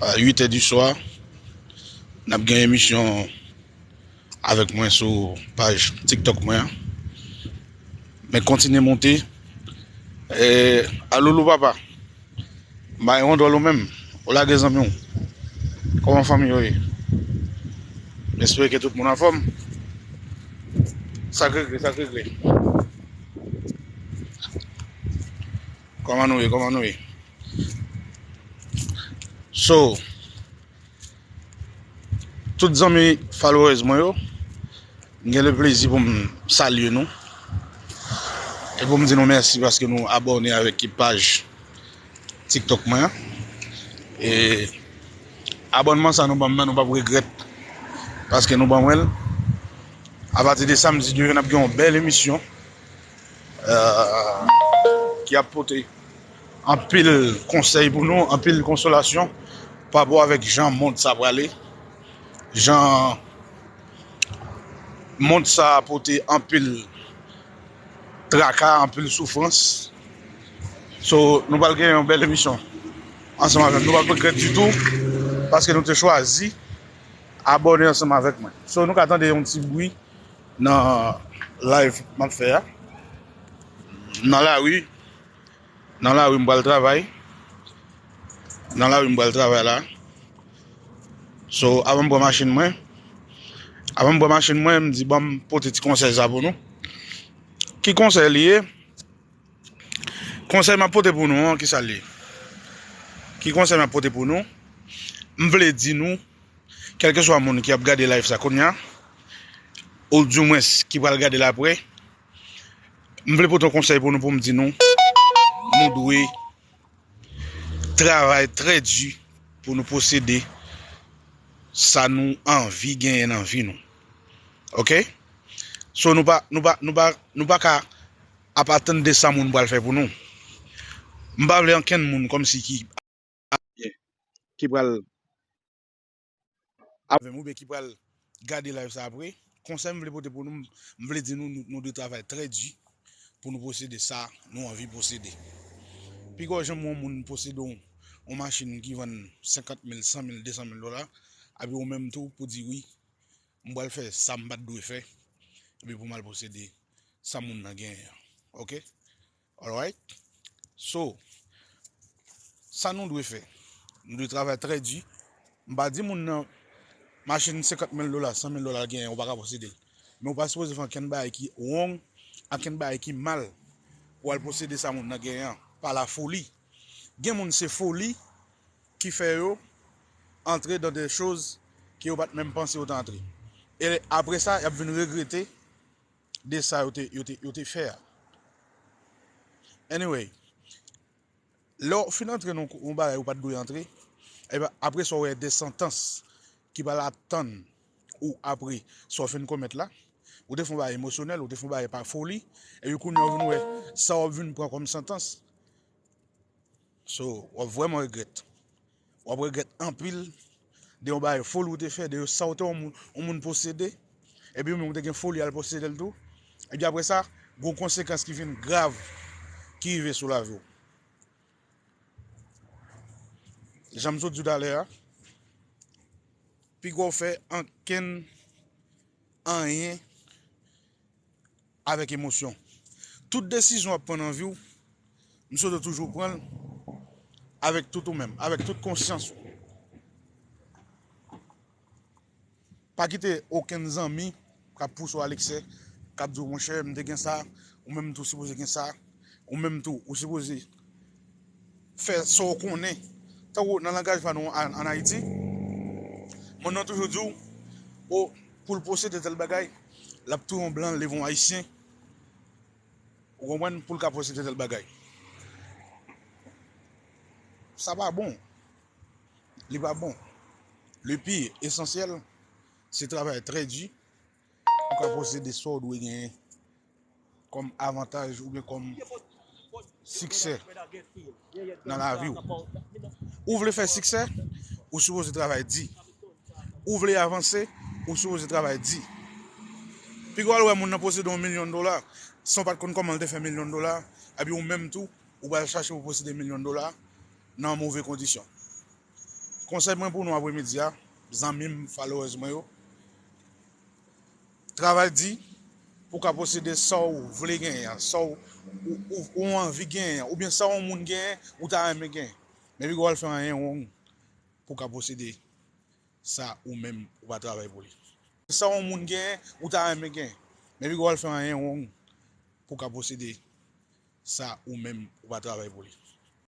A 8 è di swa, n ap gen emisyon avèk mwen sou paj TikTok mwen an. Men kontinye monte. E, a Loulou papa, m bay yon dòl ou menm, ou lage zanmi w. Kòman fanmi yo ye? M espere ke tout moun anfòm. Sa k regle, sa k regle? Koman nou ye koman nou ye So Tout zanmi followers mwen yo M gen le plezi pou m salye nou E pou m di nou mèsi paske nou abòne avèk ki paj tiktok mwen an E Abònman sa nou banm nan nou pap regrèt Paske nou ban mwen l Apati de samdi demen nap gen yon bèl emisyon ki ap pote anpil konsèy pou nou, anpil konsolasyon pa rapò avèk jan mond sa prale, jan mond sa pote anpil traka, anpil soufrans. So, nou pral gen yon bèl emisyon ansanm avèk nou, nou pap regrèt ditou paske nou te chwazi abòne ansanm avèk mwen. So, nou ka tande yon ti bwi. Nan live map fè a. M nan la rue. Nan la rue m pral travay. Nan la rue m pral travay la. So avan m pran machin mwen. Avan m pran machin mwen m di banm pote ti konsèy sa pou nou. Ki konsèy li ye? Konsèy map pote pou nou an ki sa l ye? Ki konsèy map pote pou nou? M vle di nou, kèlkeswa moun ki ap gade live sa kounya, ou di mwens ki pral gade l aprè, m vle pote yon konsèy pou nou pou m di nou, nou dwe travay trè di pou nou posede sa nou anvi genyen nan vi nou. Ok? So nou pa, nou pa, nou pa, nou pa ka. Apa tnde sa moun pral fè pou nou. M pa vle ankenn moun kòmsi ki ap fè byen ki pral avè m oubyen ki pral gade live sa apre. Konsèy m vle pote pou nou, m vle di nou nou dwe travay trè di pou nou posede sa nou anvi posede. Pi gwo janm wè yon moun posede yon machin ki vann 50 mil, 100 mil, 200 mil dola, epi ou menm tou pou di wi M pral fè sa m pa t dwe fè epi pou m al posede sa moun nan genyen an. Ok? Alright? So, sa nou dwe fè? Nou dwe travay trè di. M pa di moun nan machin 50 mil dola, 100 mil dola l genyen ou pa ka posede l. Men ou pa sipoze fè ankenn bagay ki wrong, ankenn bagay ki mal pou al posede sa moun nan genyen an pa lafoli. Gen moun se foli ki fè yo antre dans des choses ke yo pat menm panse yo ta antre. E apre sa yap vin regrete de sa yo te fè a. Anyway, lè ou fin antre nan yon bagay ou pat dwe antre, apre sa ou wè des santans ki pral ap tann. ou apre sa w fin komèt la, ou te fè yon bagay emosyonèl, ou te fè yon bagay pa foli, epi kounye an w vin wè sa w ap vin pran kòm santans, so w ap vrèman regrèt, w ap regrèt anpil de yon bagay foli ou te fè, de sa w te yon moun posede, epi ou menm ou te gen foli al posede l tou, epi apre sa, gen yon konsekans ki vin grav ki rive sou lavi w. Jan m sot di w talè a, pi gwo fè ankenn anyen avèk emosyon. Tout desizyon w ap pran nan vi w, m swete w toujou pran l avèk tout ou menm, avèk tout konsyans ou. Pa kite okenn zanmi k ap pouse w al eksè, k ap di w, monchè, m te gen sa, ou menm tou sipoze gen sa, ou menm tou ou sipoze fè sa w konnen. Tankou nan langaj pa nou an Ayiti, moun nan toujou di w, o, pou l posede tèl bagay, l ap touye yon blan, leve yon Ayisyen, ou konprann, pou l ka posede tèl bagay. Sa pa bon. Li pa bon. Le pi esansyèl, se travay trè di pou ka posede sa w dwe genyen kòm avantaj oubyen kòm siksè nan lavi w. Ou vle fè siksè, ou sipoze travay di. Ou vle avanse, ou sipoze travay di. Pi gwa l wè moun nan posede yon milyon dola san w pa t konn kòman l te fè milyon dola, epi ou menm tou ou pral chache pou posede milyon dola. nan move kondisyon. Konsèy mwen pou nou apremidi a, zanmi m, followers mwen yo, travay di pou w ka posede sa w vle genyen an, sa w ou anvi genyen an, oubyen sa yon moun genyen ou ta renmen genyen. Men pi gwo al fè anyen wrong pou w ka posede sa ou menm ou pa travay pou li. Sa yon moun genyen ou ta renmen genyen. Men pi gwo al fè anyen wrong pou w ka posede sa ou menm ou pa travay pou li.